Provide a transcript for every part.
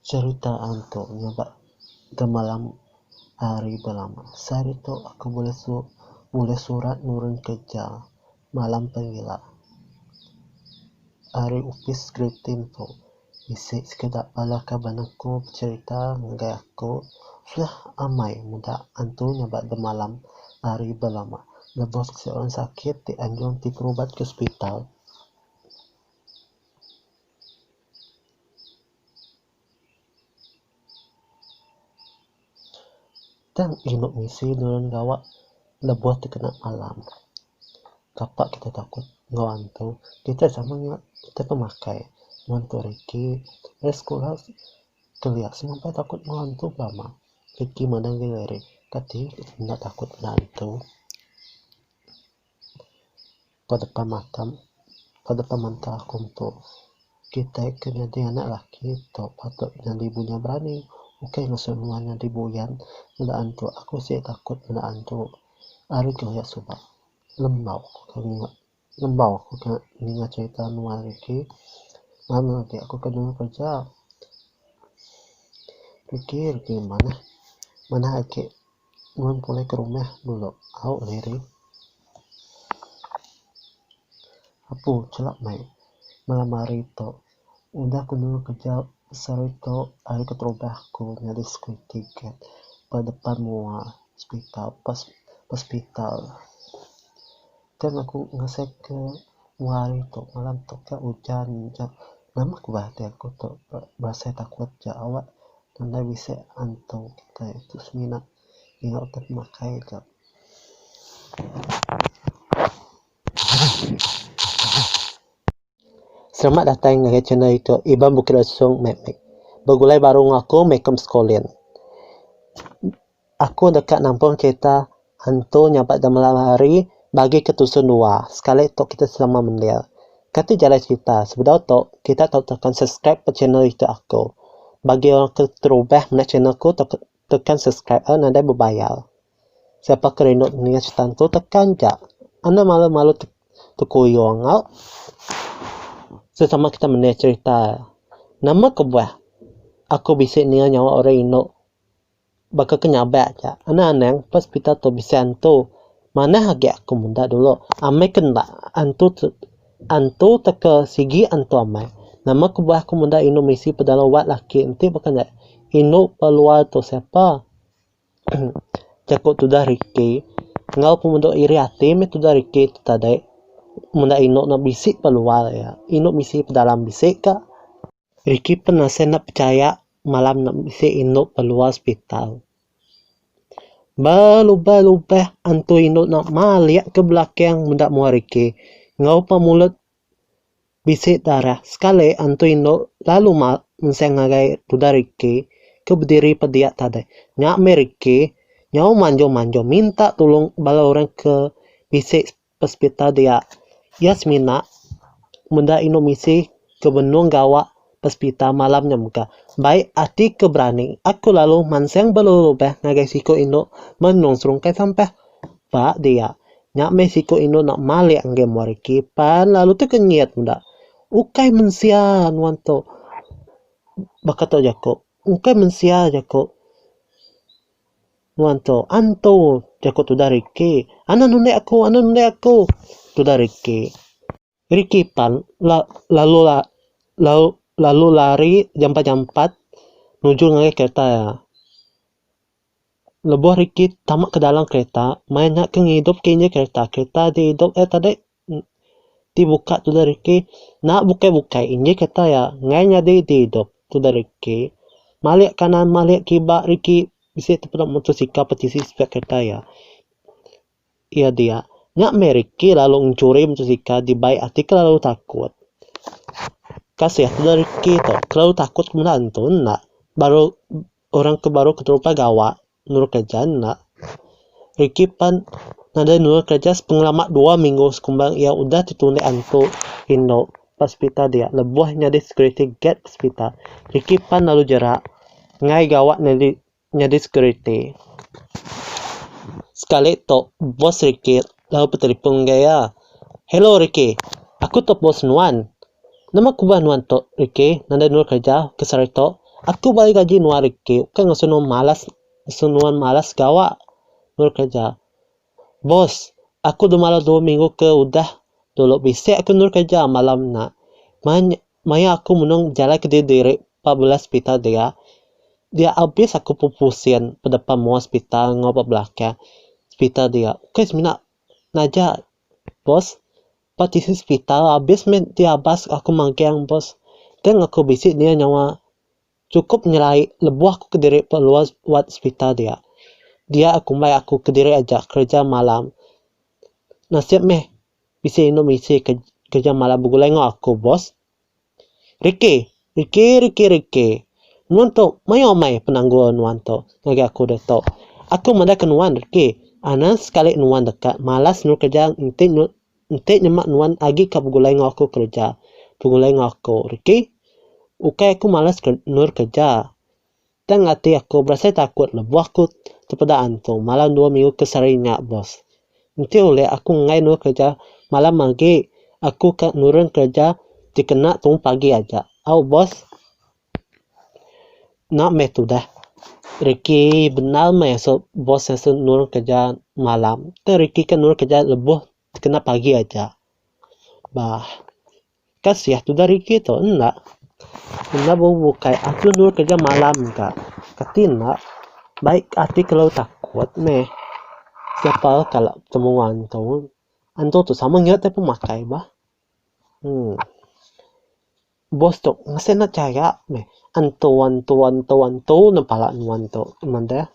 Cerita antu nyabak gemalam ari belama. Sehari tu aku bulih su bulih surat nurun kerja malam pengila ari opis Gritin tu bisi sekeda bala kaban aku becerita ngagai aku suah amai meda antu nyabak gemalam ari belama lebuh siti orang sakit ti anjung ti berubat ke hospital. Tang inu bisi nulung gawa lebuh tekena alam. Kapa kita takut enggau hantu? Kita sama nya kita pemakai wang tu hari ti meh sekula kelia semua meh takut enggau hantu pula mah. Reti madang diri ari kati enda takut enggau hantu. Ba depan mata ba depan menta aku metu kitai ke nyadi anak laki tu patut nyadi bunya berani ukai ngesu nuan nyadi buyan meda antu aku sik takut meda antu ari ke hoyak suba lembau aku ke lembau aku ke ninga cerita nuan Ricky ngam agi aku ke nyuruh kerja Ricky Ricky manah manah agi. Nuan pulai ke rumah dulu au Larry. Apu chelap mai malam hari tu udah ku nemu kereja besar iko ari keterubah ku nyadi security guard ba depan mua hospital hospital. Tang aku ngasai ke dua hari tu malam tu ke ujan aja nama ku bah ati aku tu berasai takut ja awak nadai bisi antu kitai tu semina nyau ti pemakai ja. Selamat datai ngagai channel aku Iban Bukit Lesong meh meh begulai baru ngaku meh ku skolin. Aku deka nampung kereta hantu nya ba jemlam hari bagi ke tusun dua sekali tu kita selama mendir. Kati jalai cerita sebedau tu kita tau tekan subscribe ba channel ito aku. Bagi orang ke terubah meda channel ku tau tekan subscribe a nadai bebayar. Siapa ke rindu ninga cerita tu tekan ja. Enda malu malu tekuyung au. Sesama kita mendir cerita. Nama kebuah aku bisi ninga nyawa orang indu. Baka ke nyabak aja, enda anang pa sepital tu bisi antu. Manah agi aku meda dulu, amai ke enda antu tu antu tauka sigi antu amai. Nama kebuah aku meda indu misi pedalau wad laki enti baka nya indu pa luar tu siapa. Jaku tudah reti enggau pengudo iri ati meh tudah reti tu tadi. Meda indu ne bisi pa luar iya, indu misi pa dalam bisi ka. Ricky pun asai enda pechaya malam nya bisi indu ba luar sepital. Ba lubah-lubah antu indu nya malik ke belakang meda mua Ricky enggau pa mulut bisi darah. Sekali antu indu lalu mak enseng ngagai tuda Ricky ke bediri pa dia tadi. Nya meh Ricky nyau manjung-manjung minta tulung bala orang ke bisi Pesepital dia. Iya semina meda inu misi ke benung gawa pesepital malam nya mega. Bai ati ke berani, aku lalu mansang berelubah ngagai siku indu menung serungkai sampah. Ba dia, nya meh siku indu enda malik enggai muar reti pan lalu tekenyit meda. Ukai mensia nuan tu, baka tu jaku. Ukai mensia jaku. Nuan tu, antu! jaku tudah Ricky. Anak nulik aku, anak nulik aku! tudah Ricky. Ricky pan la lalu la lalu lalu lari jampat-jampat nuju ngagai kereta iya. Lebuh Ricky tama ke dalam kereta, maya nya ke ngidup ke injin kereta, kereta diidup iya tadi. Ti buka tudah reti enda bukai-bukai inji kata iya enggai nyadi di idup tudah reti malik kanan malik kiba reti bisi tu peda motosikal peti isi spare kereta iya. Iya dia nya meh reti lalu mencuri motosikal dibai ati kelalu takut. Kasih tudah reti tu kelalu takut ke benda tu enda baru orang ke baru keterupai gawa nurut kereja enda. Ricky pan nadai nurut kereja sepengelama dua minggu sekumbang iya udah tetulik antu indu ba sepitar dia lebuh nyadi security guard ba sepitar. Ricky pan lalu jerak enggai gawa nyadi nyadi security. Sekali tu boss Ricky lalu betelefon enggau iya, "Hello Ricky, aku tu boss nuan. Nama kubah nuan tok riki nadai nua kerja ke sehari tok aku bagi gaji nua riki ukai ngasu nua malas ngasu nua malas gawa nua kerja boss aku dah malas dua minggu ke udah dulu bisi aku nua kerja malam nya manya maya aku menung jalai ke diri diri ba bela sepital dia dia abis aku pupu sin bedepan mua sepital enggau ba belakang sepital dia ukai semina naja boss. Ba tisi sepital abis meh ti abas aku magang bos tang aku bisi nia nyawa chukup nyelai lebuh aku kediri peluar wad sepital dia. Dia kumbai aku kediri aja kereja malam nasib meh bisi inu misi kereja malam begulai enggau aku bos. Riki, riki, riki, riki. Nuan tu mayuh amai penanggul nuan tu ngagai aku ditu. Aku madah ke nuan riki, anang sekali nuan deka malas nurut kerja enti nyu enti nyema nuan agi ka begulai enggau aku kerja. Begulai enggau aku riki. Ukai aku malas nurut kerja. Tang ati aku berasai takut lebuh aku tepeda antu malam dua minggu ke sehari nya bos. Enti ulih aku enggai endur kereja malam agi aku ka nurun kereja ti kena tu pagi aja. Au bos. Enda meh tudah reki bendar meh asu bos asu nurun kereja malam. Tang reki ka nurun kereja lebuh ti kena pagi aja. Bah. Kasih tu dari kita enda. Enda bukai aku dulu kerja malam ka. Kati enda baik ati kalau takut meh siapa kala temu antu. Antu tu sama nya tapi makai bah. Uhh. Boss tu mesti enda chaya meh antu antu antu antu ne pala nuan tu ngeban deh.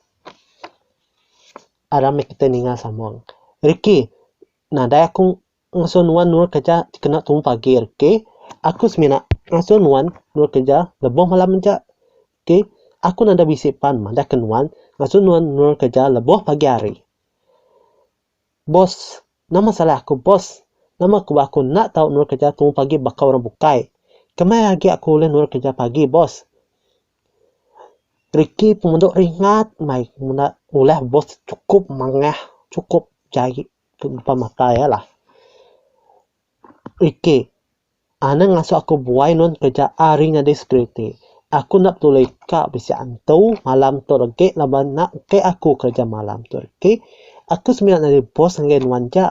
Aram meh kita ninga samak. Rikki nadai aku Ngasuh nuan endur kereja kena tumu pagi hari ke. Aku semina ngasuh nuan endur kereja lebuh malam aja ke. Aku nadai bisi pan madahka nuan ngasuh nuan endur kereja lebuh pagi hari. Boss, nama salah aku boss? Nama ku ba aku enda tau endur kereja tumu pagi baka orang bukai. Kemaya agi aku ulih endur kereja pagi boss? Ricky pemandu ringat mai meda ulah boss chukup mangah, chukup jai. tu empa matai alah. Iti anang ngasu aku buai nuan kereja ari nyadi security. Aku enda peduli ka bisi antu malam tu regi laban enda engke aku kereja malam tu reti aku semina nyadi boss ngagai nuan ja.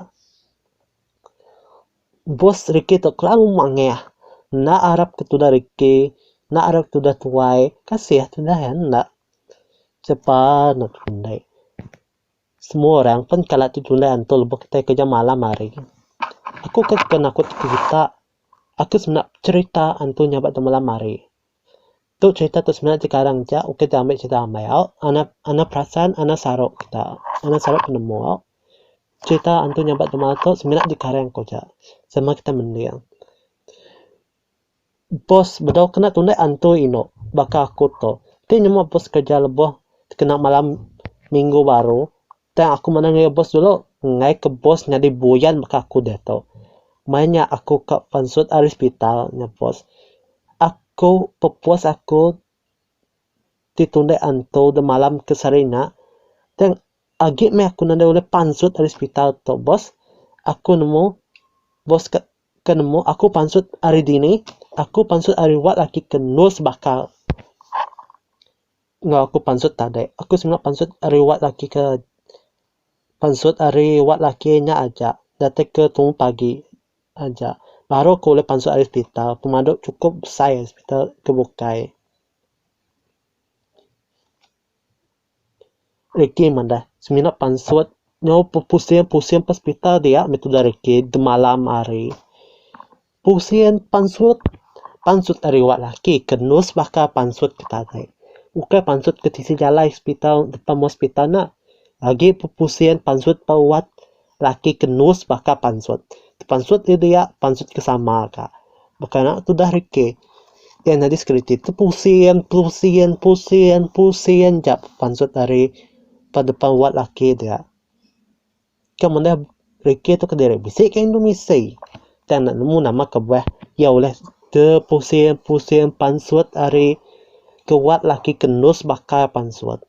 Boss reti tu kelalu mangah enda arap ke tudah reti enda arap tudah tuai kasih tudah iya enda. Sapa neg rundek. Semua orang pen kala tu julai anto lebuh kitai kerja malam hari. Aku ke suka nakut ti kita. Aku semina becerita anto nya ba tu malam hari. Tu cerita tu semina jekarang ja ukai ti ambi cerita ambai au anak anak perasan anak saru kita. Anak saru penemu au. Cerita anto nya ba tu malam tu semina jekarang ku ja sama kita mending. Pos bedau kena tundah antui inu baka aku tu. Ti nyema pos kerja lebuh kena malam minggu baru tang aku mandang ngagai bos dulu ngai ke bos nyadi buyan baka aku diatu. Maya nya aku ka pansut ari sepital nya pos aku pepos aku ti tundah antu dak malam ke sehari nya tang agi meh aku nadai ulih pansut ari sepital tu bos aku nemu bos ka Ke nemu aku pansut ari dini, aku pansut ari wak laki ke nul sebakal. Enggau aku pansut tadi, aku singok pansut ari wak laki ke pansut ari wak laki nya aja datai ke tumu pagi aja baru aku ulih pansut ari sepital pemadu chukup besai sepital ke bukai. Ricky madah, semina pansut nyau pusing pusing ba sepital dia meh tudah Ricky semalam hari. Pusing pansut, pansut ari wak laki ke nurse baka pansut ke tadi. Ukai pansut ke tisi jalai sepital depan hospital nya. Agi pusing pansut ba wat. Laki ke nus baka pansut. Tepansut ri dia, pansut ke sama ka. Baka nya ke udah reke. Iya nyadi security tu pusing, pusing, pusing, pusing ja pansut ari ba depan wad laki dia. Ke mene reke tu kediri bisi ka indu misi. Tang enda nemu nama kebuah iya ulih tepusing, pusing pansut ari ke wad laki ke nus baka pansut.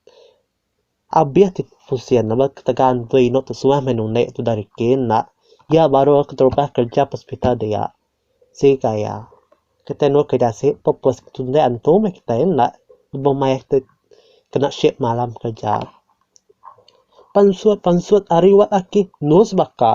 Abih ti pusing ne ba ketegal enti inu tu suah meh nuni tudah reti enda iya baru keterubah kerja ba hospital dia sika iya kitai meh kena si purpose tundah antu meh kitai enda lebuh mayar kitai kena shift malam kerja pansut pansut ari wat ake news baka.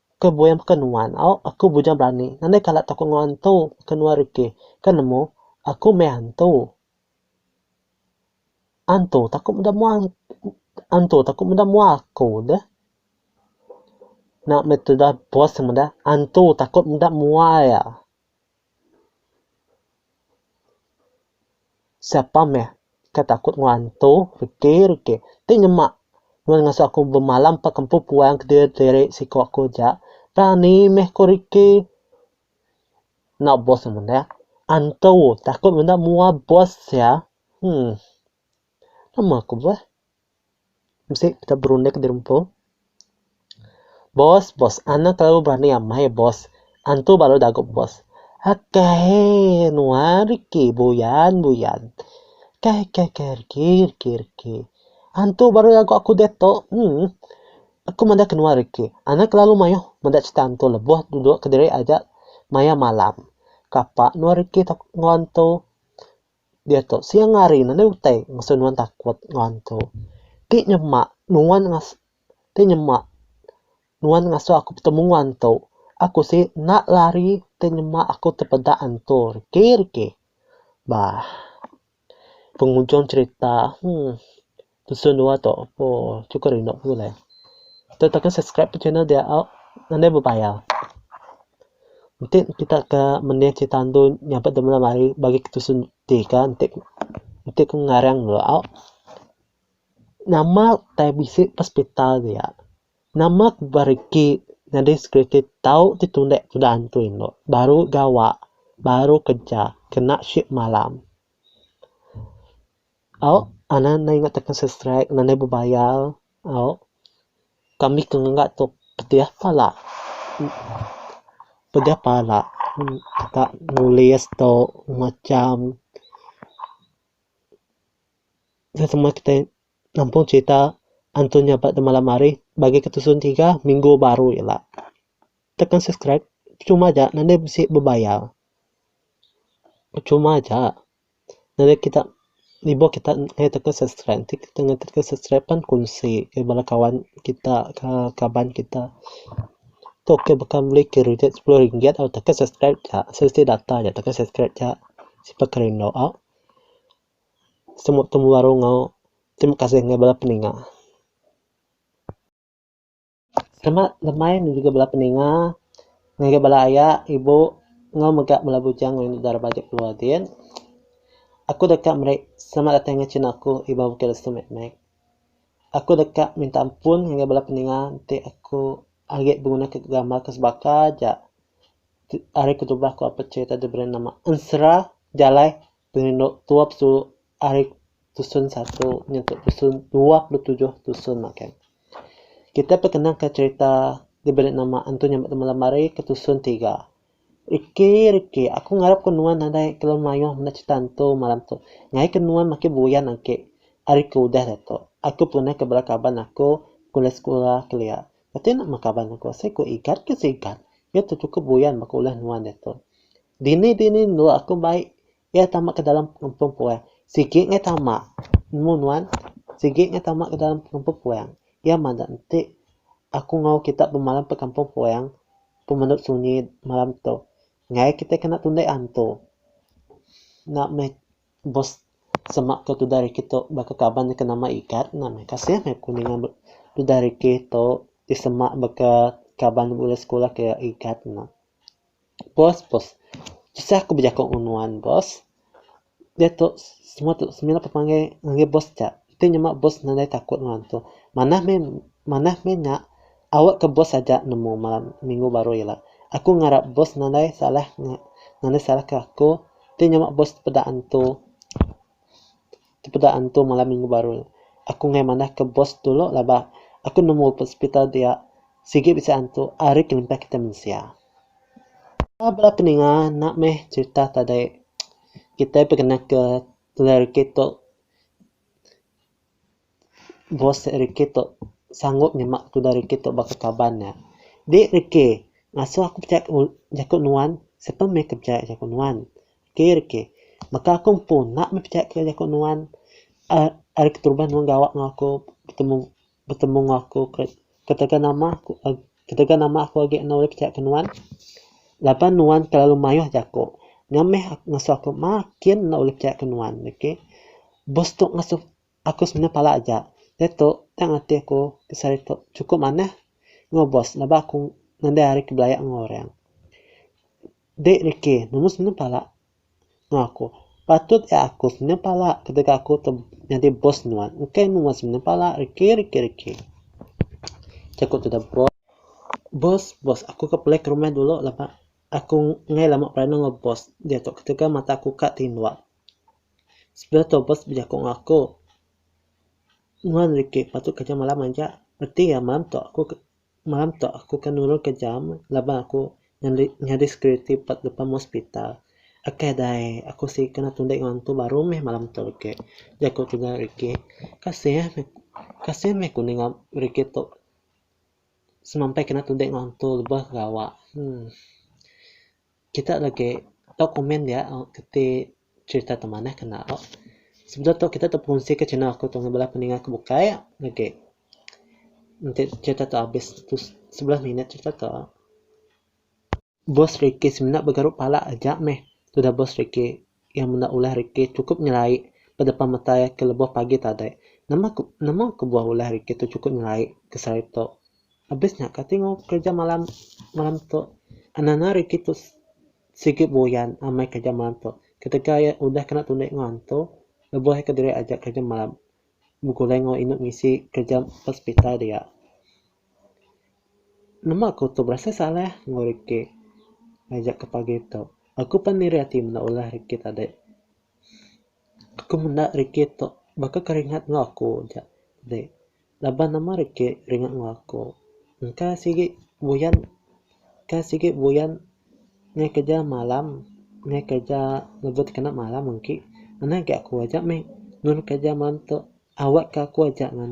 Ke buin baka nuan, au, aku bujang berani, nadai kala takut enggau antu, baka nuan Ricky. Ke nemu, aku meh antu. Antu takut meda mua antu takut meda mua aku deh. Nya meh tudah bos meda antu takut meda mua iya. Siapa meh ke takut enggau antu reti reti ti nyema nuan ngasu aku bemalam empa ke empu puan kediri diri siko aku ja rani meh ko reti enda boss meh meda antu takut meda mua boss ya. Hum nama ku boss. Mesti kita berunding ke diri empu. Bos, bos. Anak telalu berani amai, bos. Antu ba lalu dagup, bos. Akai nuan riki buyan, buyan. Kai, kai, kai riki, riki, riki. Antu baru dagup aku diatu. Emm. Aku meda ke nuan riki. Anak telalu mayuh meda cerita antu lebuh duduk kediri aja maya malam. Kapa nuan riki tau nengau antu. Diatu siang hari ne enda utai ngasu nuan takut enggau hantu. Ti nyema nuan ngasu ti nyema nuan ngasu aku betemu enggau hantu, aku si enda lari ti nyema aku tepeda hantu riki riki. Bah penghujung cerita, heh. Dusun dua tu oh cukup rindu aku alai. Kita tekan subscribe ke channel dia au nadai bebayar. Enti kita ke mending cerita andu nyabut dep malam hari bagi ke dusun tiga enti enti ku ngarang dulu au nama tai bisi ke hospital dia nama ke beregi nyadi security tau ti tunde tuda antu endo baru gawa baru kerja kena shift malam. Au, anak enda ingat takan subscribe ngena enda bebayar. Au, kami ke ngega tu pedeh pala. Pedeh pala teka nulis tu macam nya semua kitai nampung cerita antu nya ba malam hari bagi ke tusun tiga minggu baru ila. Takan subscribe percuma aja ngena enda bisi bebayar. Percuma aja. Jadi kita lebuh kita ngatur kita subscribe ti kita ngatur kita subscribe pan kunsi ngagai bala kawan kita ka kaban kita tu ke baka meli kridit sepuluh ringgit au tau ke subscribe ka siti data ja tau ke subscribe ka sipa ke rindu au semua temu baru enggau terima kasih ngagai bala peninga. Selamat lemai nyadi bala peninga ngagai bala aya, ibu enggau mega bala bujang ngagai enda raban aja keluar din. Aku deka meri selamat datai ngagai chin aku Iban Bukit Lesu mek mek. Aku deka minta ampun ngagai bala peninga enti aku agi beguna ke gambar ke sebaka aja. Ari kedubah aku apai cerita diberi nama ensera jalai Pengelok tuap tu ari tusun satu nyentuk tusun dua puluh tujuh tusun makai. Kitai pekenang ka cherita diberi nama Antu Nyambat Temalam Ari ke tusun tiga. Riki riki aku ngarap ko nuan nadai kelalu maioh meda cherita antu malam tu. Ngaii ke nuan makin buyan agi ari ke udah diatu. Aku pun pernah ke bala kaban aku kuliah sekula kelia. Kati nama kaban aku asai ko Igat ke si Igat. Iya tu cukup buyan baka ulah nuan diatu. Dini dini endur aku mai iya tama ke dalam pengumpung puang. Sigi ngai tama. Nemu nuan sigi ngai tama ke dalam pengumpung puang. Iya mada enti aku enggau kita bemalam ba kampung puang pemenu sunyi malam tu. Ngai kita kena tundek antu. Enda meh bos semak ke tudah rikit tu baka kaban ke nama Igat ena meh kasih meh aku ninga tudah rikit tu disemak baka kaban ulih sekula ke Igat ena. Boss boss tusah aku bejaku ngan nuan boss diatu semua tu semina tu panggil ngagai boss ja ti nyema boss nadai takut nuan tu manah mih manah mih nya awe ke boss aja nemu malam minggu baru ila aku ngarap boss nadai salah nadai salah ke aku ti nyema boss peda antu. Tepeda antu malam minggu baru, aku ngai manah ke bos dulu laban ba aku nemu ba hospital dia sigi bisi antu ari kelimpah kita mensia. Enda bala peninga enda meh cerita tadi kita pekena ke lelaki tu. Bose rikih tu sanggup nyema tudah rikih tu baka kaban nya. Di rikih ngasuh aku pechai jaku nuan siapa meh ke pechai jaku nuan. Ti rikih baka aku empu enda meh pechai ke jaku nuan uhh ari keterubah nuan gawa ngan aku betemu betemu ngan aku ketegal nama aku ketegal nama aku agi enda ulih pechai ke nuan laban nuan terlalu mayuh jaku nya meh ngasuh aku makin enda ulih pechai ke nuan. Bos tu ngasuh. Aku semina pala aja. Diatu, tang ati aku ti sehari tu chukup manah enggau bos laban aku ngandai hari ke belaya enggau orang. Dek Ricky, nemu semina pala enggau aku. Patut iya aku semina pala ketegal aku tu nyadi bos nuan. Engkai mu meh semina pala Ricky, Ricky, Ricky. Jaku tudah bos. Bos, bos, aku ke pelai ke rumah dulu laban aku enggai lama berandau enggau bos diatu ketegal mata aku ka tinduh. Sebelah tu bos bejaku enggau aku, Nuan Ricky patut kerja malam aja. Reti iya malam tu aku malam tu aku ke nurunka jam laban aku nyadi nyadi security ba depan hospital. Aka dai aku si kena tunde enggau antu baru meh malam tu age, jaku tuda Ricky. Kasih kasih meh aku ninga Ricky tu semampai kena tunde enggau antu lebuh gawa. Emm. Kita legi tau komen dia keti cerita ti manah ke enda tok. Sebedau tok kita tau pengunsi ke channel aku tok ngan bala peninga ke bukai legi. Enti cerita tok abis sebelas minit cerita tok. Boss Ricky semina begaru pala aja meh tudah boss Ricky. Iya meda ulah rikih chukup nyelai ba depan mata iya ke lebuh pagi tadi. Nama ke nama kebuah ulah rikih tu chukup nyelai ke sehari tu. Abis nya kati enggau kereja malam malam tu. Anang-anang rikih tu sigi buyan amai kereja malam tu. Ketegal iya udah kena tulik enggau antu, lebuh iya kediri aja kereja malam begulai enggau indu ngisi kereja ba sepital dia. Nama aku tu berasai salah enggau rikit ngajar aku pagi tu. Aku pan iri ati menda ulah rikit ade. Aku menda rikit tu baka ke ringat enggau aku aja ade. Laban nama rikit ringat enggau aku. Engka sigi buyan engka sigi buyan ngaih kerja malam ngaih kerja lebuh tekena malam engki. Ena agi aku aja meh nulung kerja malam tu awak ke aku aja ngan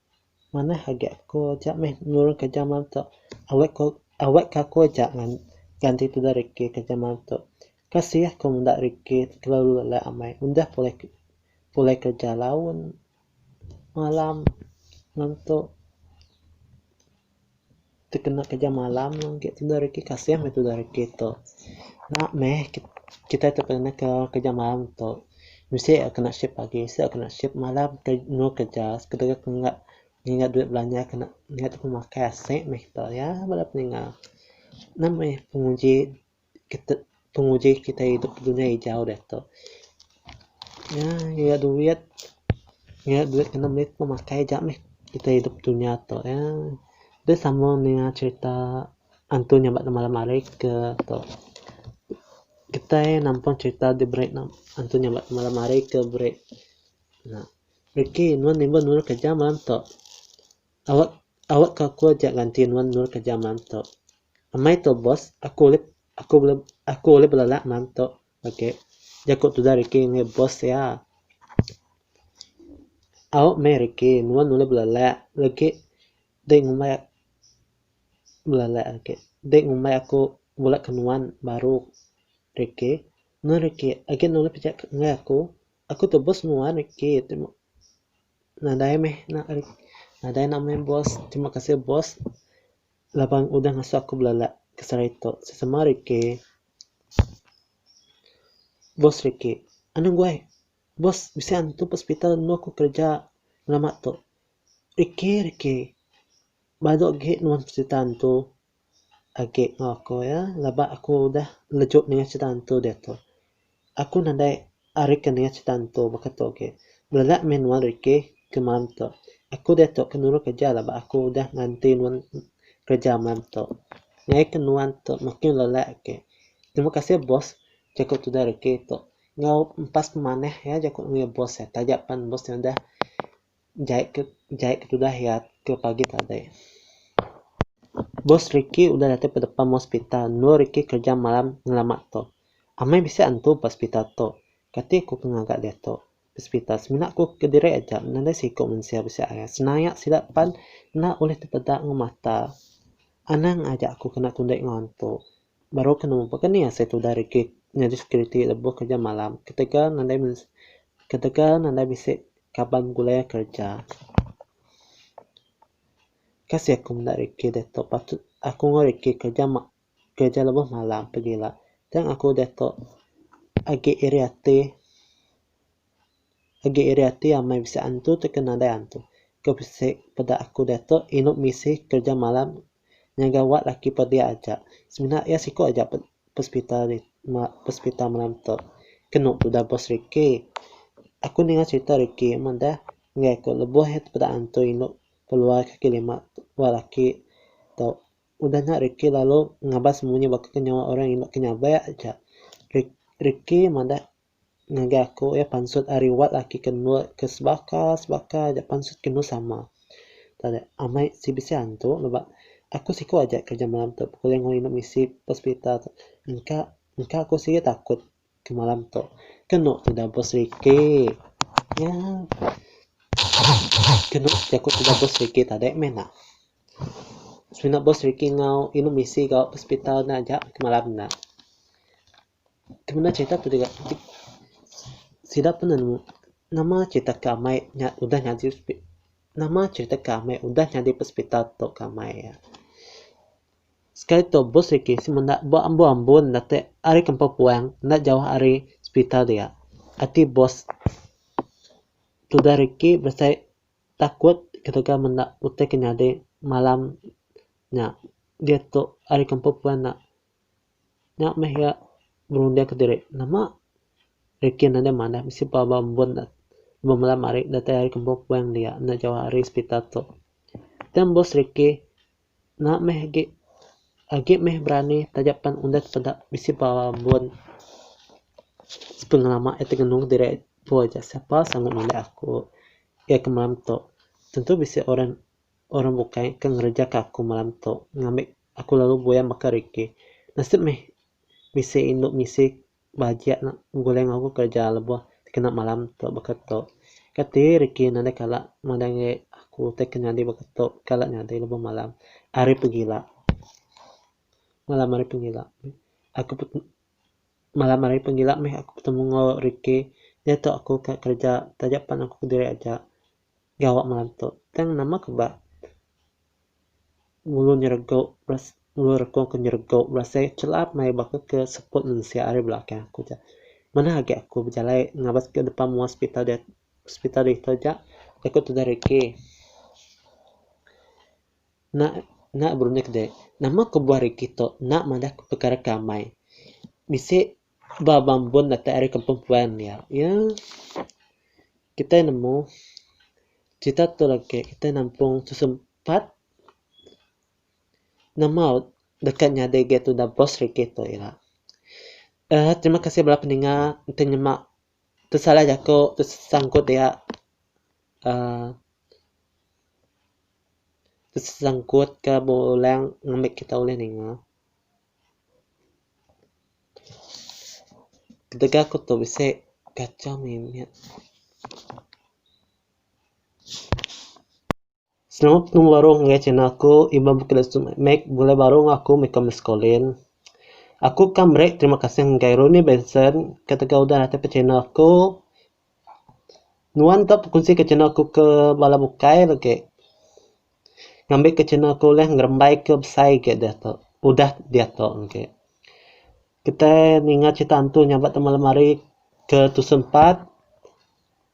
Manah agi aku aja meh nulung kerja malam tu. Awak ku awak ka aku aja ngan ganti tudah reti kerja malam tu. Kasih aku menda reti kelalu alai amai udah pulai pulai kerja laun malam ngantuk. tekena kerja malam agi tudah reti kasih meh tudah reti tu. Nya meh kitai tekena kerja malam tu bisi a kena shift pagi bisi a kena shift malam temu kerja sekadar tengah nginga duit belanja kena ngingat temu makai aseng meh kita iya bala peningah. Nya meh penguji. kitek penguji kitai idup dunya ijau diatu. Nya nya duit, nya duit kena meri pemakai aja meh kitai idup dunya tu ya. Deh sama ninga cherita antu nya ba malam hari ke tu. Kitai nampun cherita diberi ne antu nya ba malam hari ke beri ne. Rikei nuan nimba nulung kereja malam tu. Awak awak ka aku aja ganti nuan endur kerja malam tu. Amai tu boss, aku ulih aku ulih aku ulih belelak malam tu agi, jaku tudah Ricky ngagai boss iya. Au meh Ricky, nuan ulih belelak lagi dei ngumbai belelak agi dei ngumbai aku bulak ke nuan baru Ricky. Nuan Ricky, agi nuan ulih pejak ngagai aku. Aku tebus muar niki terima nadai meh nak nadai nak meh boss terima kasih boss laban udah ngasu aku belala ke sehari tu sesama ari ke boss riki anu guai boss bisi antu ke hospital enu aku kerja lama tu riki riki badu agi nuan cerita antu. agi enggau aku iya laba aku udah lejuk ninga cerita hantu diatu. Aku nadai ari ke ninga cerita hantu baka tu agi. Belelak meh nuan rikih ke malam tu. Aku diatu ke nuru kereja laba aku udah nganti nuan kereja malam tu. Ngaih ke nuan tu makin belelak agi. Terima kasih boss jaku tudah rikih tu. Enggau empas pemanah iya jaku ngeri boss iya taja pan boss iya udah. jai ke jai ke tudah iya ke pagi tadi. Bos Ricky udah datai ba depan hospital endur Ricky kerja malam ngelama tu. Amai bisi antu ba hospital tu. Kati ku ke ngaga diatu? Hospital semina ku ke diri aja nadai siku mensia bisi arai senaya sida pan enda ulih tepeda enggau mata. Anang aja aku kena kundi enggau antu. Baru ke nemu pekeni iya asai tudah rigit nyadi security lebuh kerja malam ketegal nadai mesi ketegal nadai bisi kaban begulai iya kerja. Ka sik aku meda Ricky diatu patut aku enggau Ricky kerja ma kerja lebuh malam pegila tang aku diatu agi iri ati. Agi iri ati amai bisi antu tauka nadai antu. Ke bisi peda aku diatu inu misi kerja malam ngagai wad laki pedi aja. Semina iya siku aja pe pesepital ri pesepital malam tu. Ke enu tudah bos Ricky. Aku ninga cherita Ricky amat dah ngagai aku lebuh iya tepeda antu inu keluar kaki lima wad laki tu. Udah nya Ricky lalu ngabas munyi baka ke nyawa orang inu ke nyabai aja. Ri Ricky madah. Ngagai aku iya pansut ari wat laki ke endur ke sebaka sebaka aja pansut ke endur sama. Tadi amai ti bisi antu leba aku siku aja kerja malam tu pekuli enggau inu misi hospital tu engka engka aku sigi takut ke malam tu ke enu tudah bos riki nyaa ke enu aku tudah bos riki tadi meh ena. Semina bos riki enggau inu misi enggau hospital ne aja malam ena. Kemina cerita tu deka sida pun nemu nama cerita ke amai nya udah nyadi hospital nama cerita ke amai udah nyadi hospital tu ke amai iya. Sekali tu bus reti ti menda ba ambo ambo nda te ari kampung puang enda jauh ari hospital dia ati bus tudah reti besai takut ketegal menda utai ke nyadi malam nya diatu ari kampung puan nya. Nya meh iya berunding ke diri, Nama Rikin enda manah bisi pelaba ambun ne lebuh malam hari datai ari ke empu puing dia enda jauh ari sepital tu. Tang bos Riki enda meh agi agi meh berani taja pan undah peda bisi pelaba ambun sepengelama iya ti ngenung diri empu aja sapa sanggup nulung aku iya ke malam tu. Tentu bisi orang orang bukai ke ngereja ke aku malam tu ngambi. Aku lalu buaya maka riki. Nasib meh bisi indu misi bajik nak begulai enggau aku kereja lebuh dikena malam tu baka tu. Kati riki nadai kala madai aku utai ke nyadi baka tu kala nyadi lebuh malam ari pegila. Malam ari pegila aku pet malam ari pegila meh aku betemu enggau riki. Diatu aku ka kereja taja pan aku kediri aja. Ga awak ngelantuk. Tang nama ke ba ngulu nyerego beras ngulu reko ke nyerego berasai chelap maya baka ke seput mensia ari belakang aku ja. Manah agi aku bejalai ngabas ke depan mua hospital dia hospital ditu ja da ku tudah regi. Enda enda berunding ke diri. Nama ke buah regi tu enda madah perkara ke amai. Bisi. Ba mambun datai ari kampung puan iya, iya kitai nemu crita tu agi kitai nampung tu sempat nama deka nyadi agi tuda bos regi tu ira. Uhh terima kasih bala peninga enti nyema pesalah jaku ti sangkut iya uhh ti sangkut ka bala orang ngambika kita ulih ninga. Ketegal aku tu bisi kacau mih nya. Selalu aku baru ngagai channel aku Iban Bukit Lesu Mat Mat bulai baru enggau aku meh kau Miscolin. Aku ka meri terima kasih ngagai Runi Benson ketegal udah natai channel aku. Nuan ka bekunsi ke channel aku ke bala bukai la ke ngambi ke channel aku ulih ngerembai ke besai ke diatu udah diatu engke. Kitai ninga crita hantu nya ba taman lemari ke tusun empat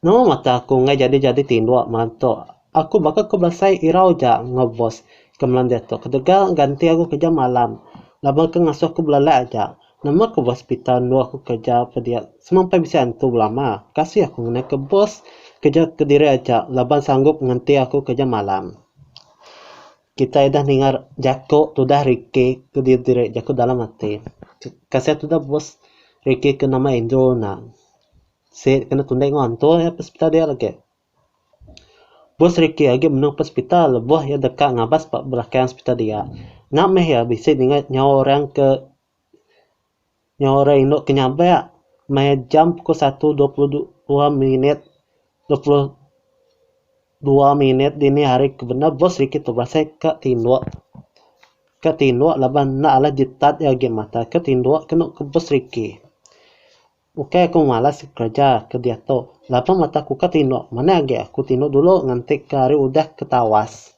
nama mata aku enggai jadi jadi tinduk mantu. Aku baka ku belasai irau ja enggau bos ke malam diatu ketegal ganti aku kerja malam laban ke ngasuh aku belelak aja. Nama ke bos Peter endur aku kerja pediak semampai bisi antu belama. Kasih aku ngena ke bos kerja kediri aja laban sanggup nganti aku kerja malam. Kitai udah ninga jaku tudah Ricky ke diri jaku dalam ati. Kasih tudah bos Ricky ke nama Andrew ena. Sik kena tundah enggau antu iya ke sepetal dia lagi. Bos Ricky agi menung pet sepital lebuh iya deka ngabas ba belakang sepital dia. Nya meh iya bisi ninga nyawa orang ke nyawa orang indu ke nyabe maya jam pukul satu dua puluh dua minit dua puluh dua minit dini hari ke bendar Bos Ricky tu berasai ka tinduk ka tinduk laban enda alai ditat iya agi mata ka tinduk ke enu ke Bos Ricky. Ukai aku malas kereja ke diatu, laban mata aku ka tinduk, manah agi aku tinduk dulu nganti ke hari udah ke tawas.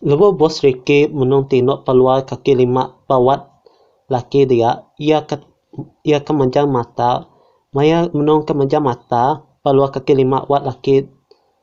Lebuh Bos Ricky menung tinduk pa luar kaki lima pa wad laki dia, iya ka iya ka manjang mata, maya menung ka manjang mata pa luar kaki lima wad laki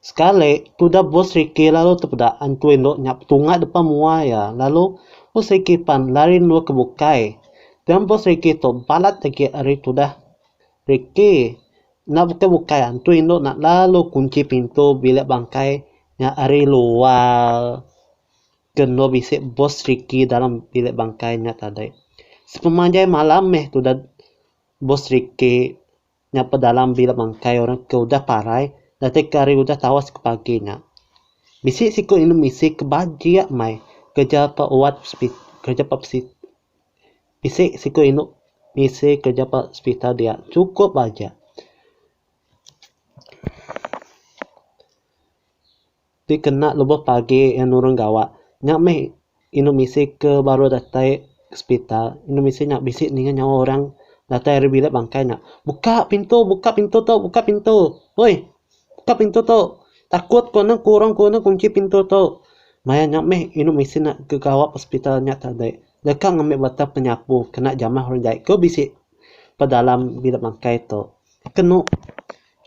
Sekali, tudah bos Ricky lalu tepeda antui endur nya petunga depa mua iya, lalu bos Ricky pan lari endur ke bukai. Pian bos Ricky tu balat agi ari tudah Ricky. Enda bukai bukai antui endur nya lalu kunchi pintu bilik bangkai nya ari luar ke endur bisi bos Ricky dalam bilik bangkai nya tadi. Sepemanjai malam meh tudah bos Ricky. nya pedalam bila bangkai orang ke udah parai datai ke hari udah tawas ke pagi nya. Bisi siku indu misi ke bajik meh kereja pa wad sipit kereja pa si bisi siku indu misi kereja pa sepital dia chukup aja. Ti kena lebuh pagi iya nurun gawa nya meh indu misi ke baru datai sepital indu misi nya bisi ninga nyawa orang datai ari bilik bangkai nya buka pintu buka pintu tu buka pintu oi buka pintu tu takut ku anu ku orang ku anu kunchi pintu tu maya nya meh indu misi nak ke gawa ke sepital nya tadi deka ngambi bata penyapu kena jamah orang jai ke bisi pedalam bilik bangkai tu.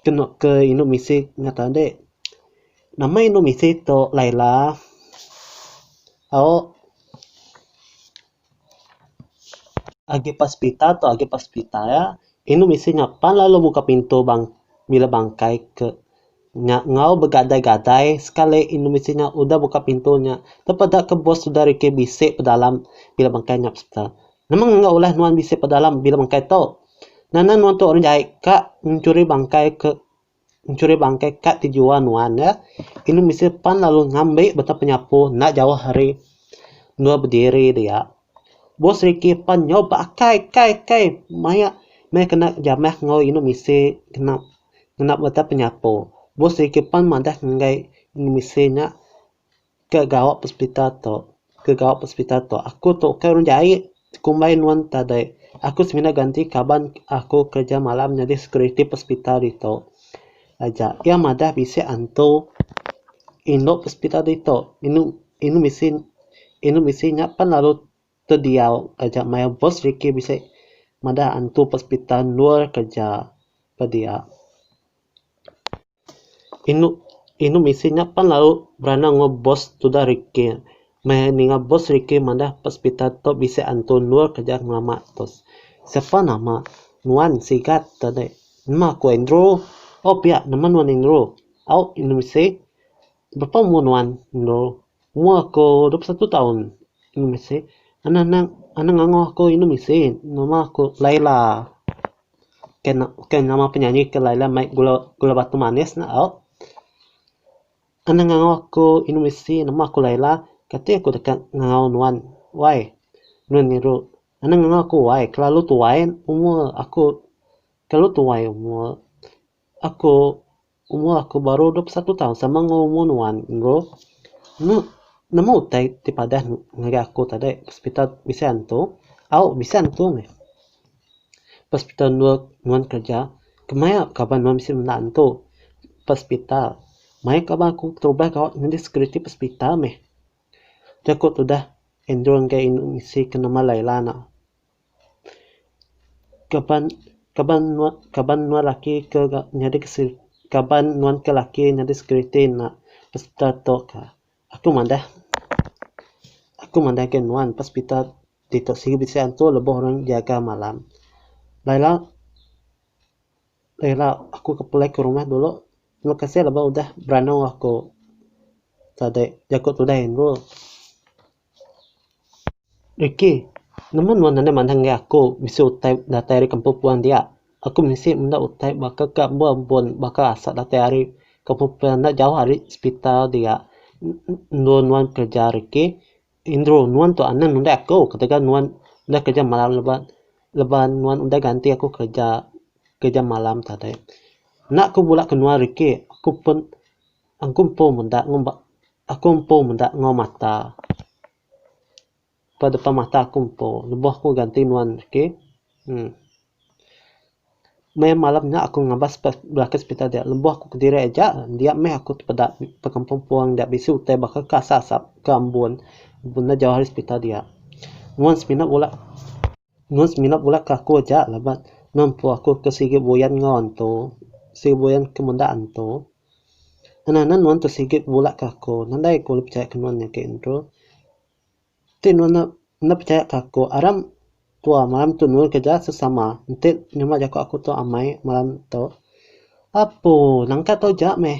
Kenu ke indu misi ngata ande. Nama indu misi tu Laila. Au agi ba hospital tu agi ba hospital ya. Indu misi nya pan lalu muka pintu bang bilik bangkai ke nya enggau begadai gadai sekali indu misi nya udah muka pintu nya tepeda ke bos udah rikih bisi pedalam bilik bangkai nya hospital. Nemang enggau ulah nuan bisi pedalam bila bangkai tu. Nana nuan tu orang jai ka nchuri bangkai ke nchuri bangkai ka ti jua nuan ya. Inu bisi pan lalu ngambi betau penyapu enda jauh ari endur bediri dia. Bos Ricky pan nyau ba akai kai kai maya maya kena jamah enggau inu bisi kena kena betau penyapu. Bos Ricky pan madah ngagai inu bisi nya Ke gawa pesepita tu, ke gawa pesepita tu aku tu ukai orang jai kumbai nuan tadai aku semina ganti kaban aku kerja malam nyadi security pesepita ditu aja iya madah bisi antu indu pesepita ditu inu inu bisi inu bisi nya pan lalu tediau taja maya boss riki bisi madah antu pesepita endur kerja pediak. Inu inu misi nya pan lau berana enggau bos tuda rikih. Meh ninga bos rikih madah ba sepital tu bisi antu endur ke aja ngelama tu. Sepa nama nuan sigat te dei. Nama ku Andrew. Oh pia nama nuan Andrew. Au inu misi. Bapa umur nuan endur umur aku dua puluh satu taun inu bisi anak anak anak angoh aku inu bisi nama aku laila ke nama penyanyi ke laila mai gula batu manis nya au anak angoh aku inu bisi nama aku laila kati aku deka ngau nuan wai nuan ngiru anak angoh aku wai kelalu tuai umur aku kelalu tuai umur aku. Umur aku baru dua puluh satu taun sama enggau umur nuan bro. Nya nama utai ti padah ngagai aku tadi hospital bisi antu au bisi antu meh. Hospital endur nuan kerja kemai kaban nuan bisi menda antu ba hospital. Mayuh kaban aku berubah gawa nyadi security ba hospital meh. Aku tudah endur ngagai inu misi ke nama Laila nek. Kaban kaban nuan kaban nuan laki ke nyadi kaban nuan ke laki nyadi security enda hospital tu ka. Aku madah aku madah ke nuan ba hospital ti tu sibu bisi antu lebuh orang nyaga malam. Ba ila ba ila aku ke pulai ke rumah dulu terima kasih laban udah beranu aku tadi jaku tudai anu. Ricky, nemu nuan anang manah ngagai aku bisi utai datai ari kampung puan dia? Aku bisi menda utai baka ke ambo ambun baka asa datai ari kampung puan enda jauh ari sepital dia. Endur nuan kereja Ricky, endur nuan tu anang nundai aku ketegal nuan udah kereja malam leban leban nuan udah ganti aku kereja kereja malam tadi. Enda ku bula ke nuan Ricky, aku pun Aku empu meda ngumba aku empu meda enggau mata ba depan mata aku empu lebuh aku ganti nuan reti uhh meh malam nya aku ngabas ba belaka hospital dia lebuh aku kediri aja dia meh aku tepeda ba kampung puang dia bisi utai baka ke asap asap ke ambun enda jauh ari hospital dia nuan semina bula. Enggau semina pula ke aku aja laban nempu aku ke sigi buyan enggau antu, sigi buyan ke menda antu. Nenanen nuan tu sigi bebula ke aku, nadai aku ulih pechaya ke nuan nya agi ntu. Ti nuan enda enda pechaya ke aku, aram tua maram tu nul ke ja sesama enti nyema jaku aku tu amai maram tu. Apu nangka tau ja meh.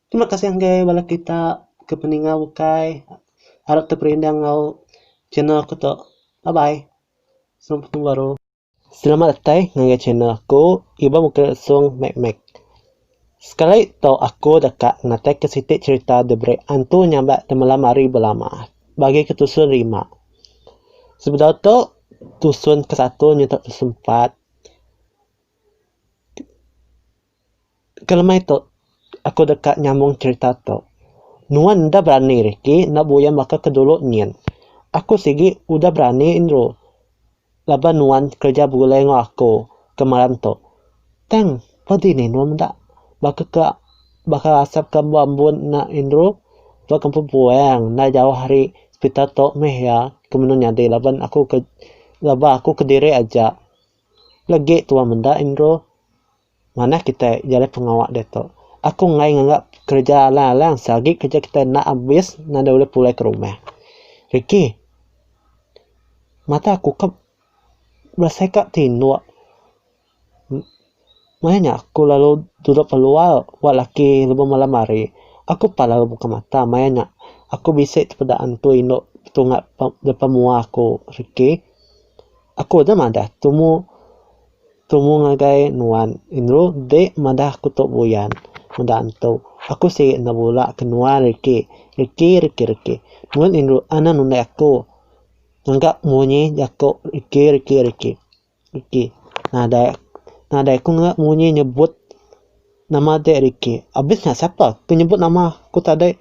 Terima kasih enggai bala kita ke peninga ukai arap teperindah enggau channel aku tu. Bye bye. Sampai betemu baru. Selamat datai ngagai channel aku Iban Bukit Lesung Mek Mek. Sekali tau aku deka ngenataika siti cherita diberi antu nyabak temalam hari belama bagi ke tusun rima. Sebedau tu tusun ke satu nyutak tusun empat. kelemai tu aku deka nyambung cerita tu nuan enda berani riki enda buyan baka ke dulu nyin aku sigi udah berani nru laban nuan kerja begulai enggau aku kemaran tu tang pa dini nuan meda baka ke baka asap ke ba embun nya nru ba kampung puang enda jauh ari hospital tu meh iya ke menu nyadi laban aku ke laban aku kediri aja. Legi tua menda Indro. Manah kitai jalai pengawa diatu. Aku enggai nganga kereja alang-alang se agi kereja kitai enda abis nadai ulih pulai ke rumah. Ricky, mata aku ka berasai ka tinduk. Maya nya aku lalu duduk keluar ba laki lebuh malam hari. Aku pan lalu buka mata maya nya aku bisi tepeda antu indu tunga depan mua aku rikki. Aku deh madah tumu tumu ngagai nuan indu deh madah aku tu buyan meda antu. Aku sigi enda bula ke nuan rikki rikki rikki rikki. Nuan indu anang nundai aku ngaga munyi jaku rikki rikki rikki. Ricky. Nadai nadai aku ngera munyi nyebut nama dek Ricky. Abis nya sapa ke nyebut nama aku tadi.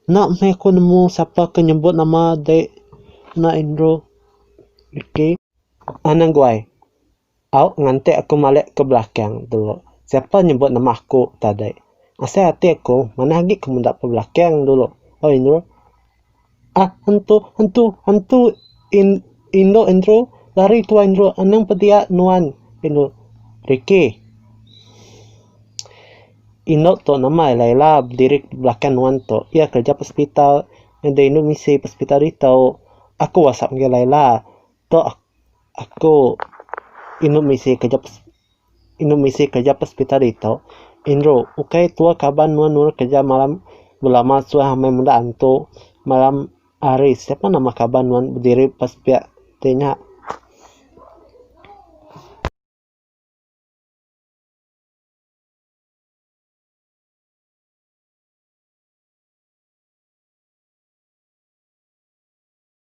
Enda meh aku nemu sapa ke nyebut nama dek ena Andrew. Ricky. An aguai. Au nganti aku malik ke belakang dulu. Sapa nyebut nama aku tadi. Asai ati aku manah agi ke meda ke belakang dulu. Oi Andrew. Ah hentu hentu hentu in indu indru lari tuai indru anang pebia nuan indu Ricky. Indu tu nama iya Laila bediri belakang nuan tu. Iya kerja hospital ngena indu misi hospital ditu. Aku wasap ngagai Laila. Tu aku indu misi kerja hospital. Indru misi kereja pespita ditu. Indru, ukai tua kaban nuan nurut kereja malam belama suah amai meda antu malam hari. Siapa nama kaban nuan bediri pas pia ti nya?